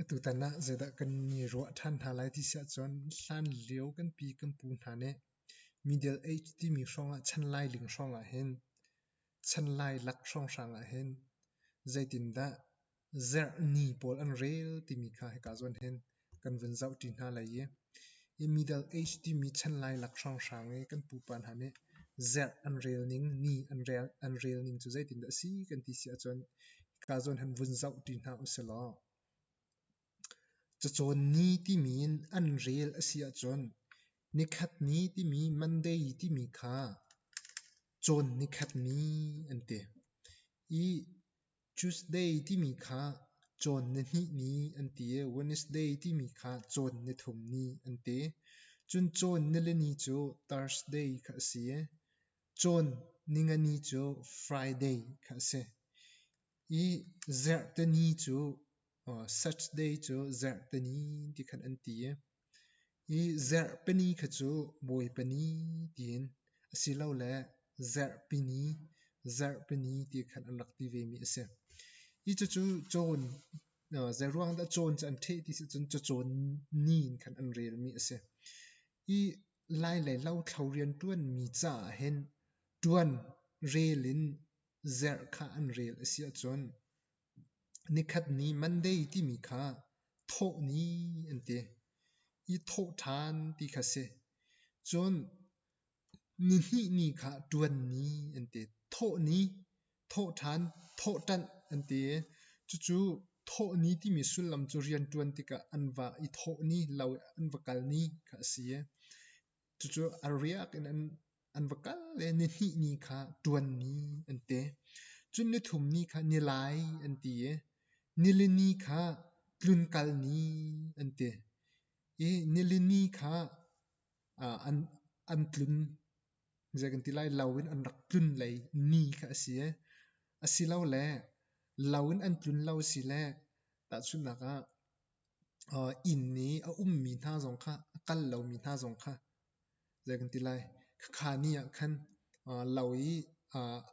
Atutan ah zeidah kan i ruah ṭhan hna lai ti si ahcun hlanlio kanpi kan pu hna nih middle age timi hrawngah chan lailing hrawngah hin chan lailak hrawnghrang ah hin zeitindah zerhni pawl an rel timi kha hika zawn hin kan vun zoh ṭi hna lai i hi Middle Age timi chan lai lak hrawnghrang i kan pupa hna nih zerh an relning, ni an rel, an relning cu zeitindah a si kan ti si ahcun hika zawn han vun zoh ṭi hna usih law cacawn ni timi in an rel a si ahcun nikhat ni timi Monday timi kha cawn nikhat ni an ti i Tuesday timi kha cawn na hnih ni an ti i Wednesday timi kha cawn na thum ni an ti. Cun cawn na le ni cu Thursday kha a si i cawn ningani cu Friday kha a si. I Zarhteni cu Saturday cu Zarhteni ti khan an ti i Hi Zarhpini kha cu Bawipani tiin asilole Zarhpini, Zarhpini ti khan an rak ti vemi a si. Hi cucu cawn, zeiruang dah cawn cu an ṭheh ti si cun cacawn ni in khan an relmi a si. Hi lai le lothlo rianṭuanmi caah hin ṭuan rel in zarh kha an rel a si ahcun Nikhat ni Monday timi kha thawh ni an ti i thawh ṭhan ti kha si. Cun nihnih ni kha ṭuan ni an ti. Thawh ni, thawh ṭhan, thawh ṭanh an ti i cucu thawh ni timi sullam cu rianṭuan tikah an vah i thawh ni lo i an va kal ni kha a si. Cucu a riak in an va kal i nihnih ni kha ṭuan ni an ti. Cun nithum ni kha nilai an ti i nilini kha tlunkal ni an ti i nilini kha an tlun zei kan ti lai lo in an rak tlun lei ni kha a si i asilole lo in an tlun lo sile tahchunhnak ah inn i a ummi hna zong kha, a kal lomi hna zong kha, zei kan ti lai, khakha ni ah khan lo i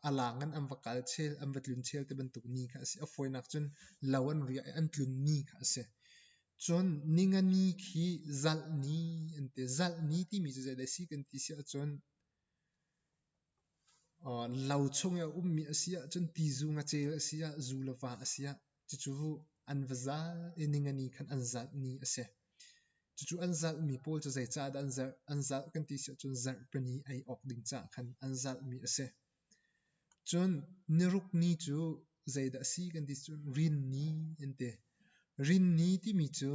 a laang in an va kal chel, an va tlun chel ti bantuk ni kha a si. A fawinak cun lo an riah i an tlun ni kha a si. Cun ningani khi zalh ni an ti. Zalh ni timi cu zeidah a si kan ti si ahcun, Lo chung i a ummi a si ahcun ti zung a ceu a si ah zu le va a si ah cucu an va zat i ningani khan an zatni a si. Cucu an zatmi pawl cu zeicah dah an zarh? An zat kan ti si ahcun zarhpini ei awk ding caah khan an zatmi a si. Cun nirukni cu zeidah a si kan ti cun rinni an ti. Rinni timi cu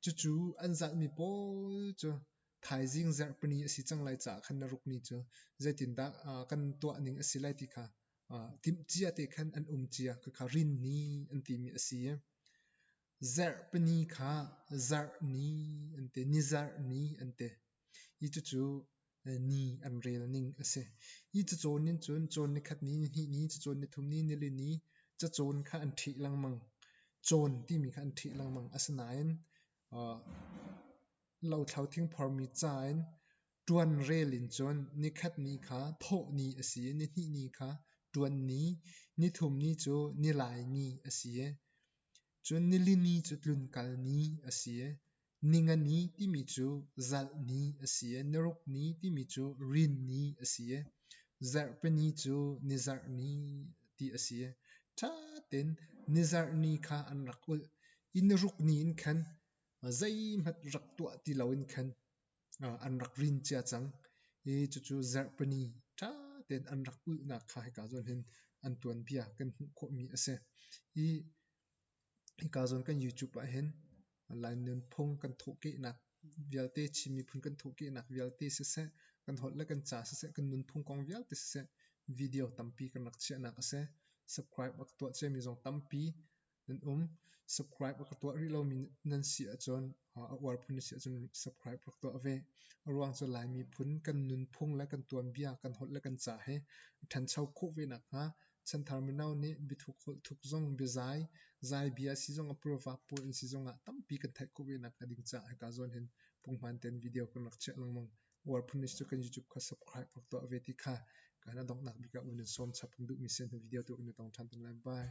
Cucu an zalhmi pawl cu thaizing zarhpini a si cang lai caah khan na rukni cu zeitindah kan tuahning a si lai ti kha timhcia te khan an um cia ka kha rinni an timi a si i zarhpini kha zarhni an ti nizarhni an ti Hi cucu ni an rel ning a si. Hi cacawn nih cun cawn ni khat ni, ni hnih ni, cacawn ni thum ni, nili ni cacawn kha an ṭhih lengmang. Cawn timi kha an ṭhih lengmang. Asinain lothlo thingphormi ca in ṭuan rel in cun ni khat ni kha thawh ni a si i ni hnih ni kha ṭuan ni, ni thum ni cu nilai ni a si i cun nili ni cu tlunkal ni a si i Ningani timi cu zalhni a si i narukni timi cu rinni a si i zarhpini cu nizarhni ti a si i ṭha tein nizarhni kha an rak ulh i narukni in khan zeihmanh rak tuah ti loin khan an rak rin cia cang i cucu zarhpini ṭha tein an rak ulhnak kha hika zawn hin an tuanbia kan hmuh khawhmi a si i Hika zawn kan YouTube ahhin Lai nunphung kan thawhkehnak vialte, Chin miphun kan thawhkehnak vialte siseh, kan holh le kan ca siseh, kan nunphung kong vialte siseh, video tampi kan rak chiahnak a si. Subscribe rak tuah ciami zong tampi nan um. Subscribe rak tuah rih lomi nan si ahcun a uar phun a si ahcun subscribe rak tuah ve. A ruang cu Lai miphun kan nunphung le kan tuanbia, kan holh le kan ca he ṭhancho khawh ve nakhnga chanthar mino nih biathuk holh thuk zong, biazai, zai bia si zong, a pura vahpuan in si zong ah tampi kan theih khawh ve nakhnga ding caah hika zawn hin punghman tein video kan rak chiah lengmang. Uar phun a si cu kan YouTube kha subscribe rak tuah ve ti kha ka na donghnak bik ah un in sawm chap kan duhmi sen video tu in na tong ṭhan tung lai. Bye.